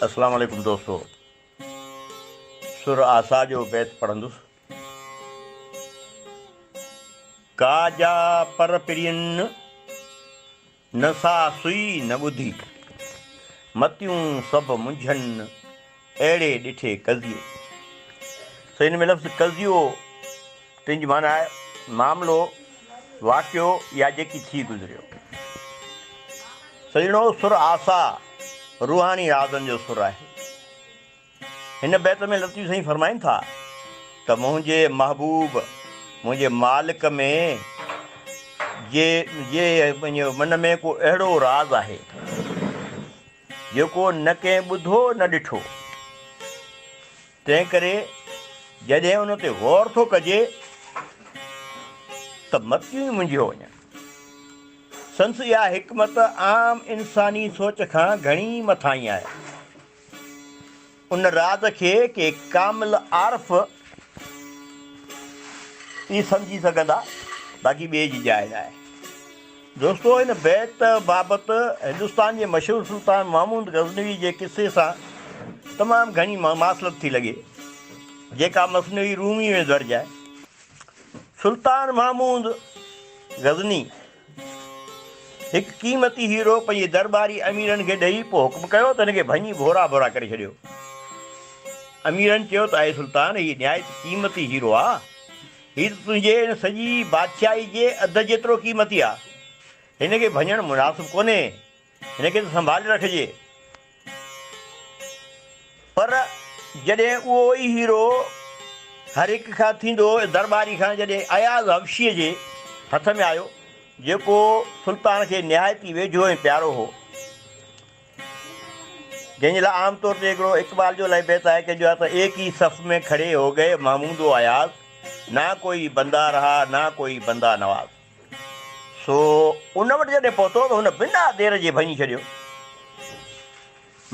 اسلام عليڪم دوستو سر آسا جو بيت پڙهندس ڪا جا پر پرين نه سا سئي نه ٻڌي متيون سڀ منجهن اهڙي ڏٺي قضيي سئي ان ۾ لفظ قضيو تنهنجي معنيٰ آهي معاملو، واقعو يا جيڪي ٿي گذريو. سڄڻو سر آسا روحاني رازن جو سر آهي. هن بيت ۾ لطيف سائين فرمائين ٿا ته منهنجي محبوب منهنجي مالڪ ۾ جي جي من ۾ ڪو اهڙو راز آهي جيڪو نه ڪنهن ٻڌو نه ڏٺو. تنهنڪري جڏهن ان تي غور ٿو ڪجي ته متيون ئي منجهيو وڃن. سندس اها حڪمت عام انساني سوچ کان گهڻي مٿاهين آهي. ان راز کي ڪي ڪامل عارف ئي سمجهي سگهندا، باقي ٻئي جي جاء ناهي. دوستو هن بيت بابت هندستان جي مشهور سلطان محمود غزنوي جي قصي سان تمام گهڻي مماثلت ٿي لڳي جيڪا مثنوي رومي ۾ درج آهي. سلطان محمود غزني هڪ قيمتي هيرو پنهنجي درباري اميرن کي ڏئي پوء حڪم ڪيو ته هن کي ڀڃي ڀورا ڀورا ڪري ڇڏيو. اميرن چيو ته اي سلطان هي نهايت قيمتي هيرو آهي. هي ته تنهنجي ان سڄي بادشاهي جي اڌ جيترو قيمتي آ. هن کي ڀڃڻ مناسب ڪونهي. هن کي ته سنڀالي رکجي. پر جڏهن اهو ئي هيرو هر هڪ کان ٿيندو درٻاري کان جڏهن اياز حبشيء جي هٿ ۾ آيو، جيڪو سلطان کي نهايت ئي ويجهو ۽ پيارو هو، جنهن جي لاء عام طور تي هڪڙو اقبال جو لئه بيت آهي ڪه جو آتا ايڪ هي صف مين کڙي هو گئي محمود و اياز نه ڪوئي بنده رها نه ڪوئي بنده نواز سو ان وٽ جڏهن پهتو ته هن بنا دير جي ڀڃي ڇڏيو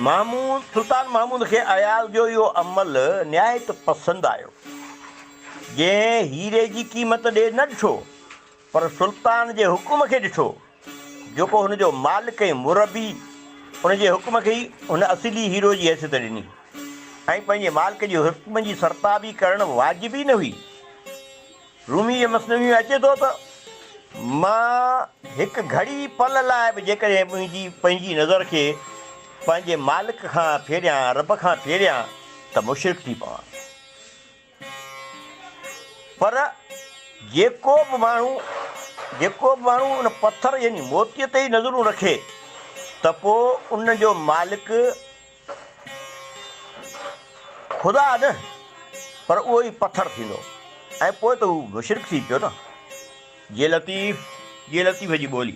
محمود سلطان محمود کي اياز جو اهو عمل نهايت پسند آيو جنهن هيري جي قيمت ڏي نه ڏٺو پر سلطان جي حڪم کي ڏٺو، جيڪو هن جو مالڪ ۽ مربي، ان جي حڪم کي ئي هن اصلي هيرو جي حيثيت ڏني ۽ پنهنجي مالڪ جي حڪم جي سرتابي ڪرڻ واجب ئي نه هئي. روميء جي مثنويء ۾ اچي ٿو ته. مان هڪ گهڙي پل لاء به جيڪڏهن منهنجي پنهنجي نظر کي پنهنجي مالڪ کان ڦيريان، رب کان ڦيريان، ته مشرڪ ٿي پوان. پر جيڪو به ماڻهو جيڪو به ماڻهو ان پٿر يعني موتيء تي ئي نظرون رکي ته پوء ان جو مالڪ خدا نه پر اهو ئي پٿر ٿيندو ۽ پوء ته هو مشرڪ ٿي پيو نه. جي لطيف جي لطيف جي ٻولي.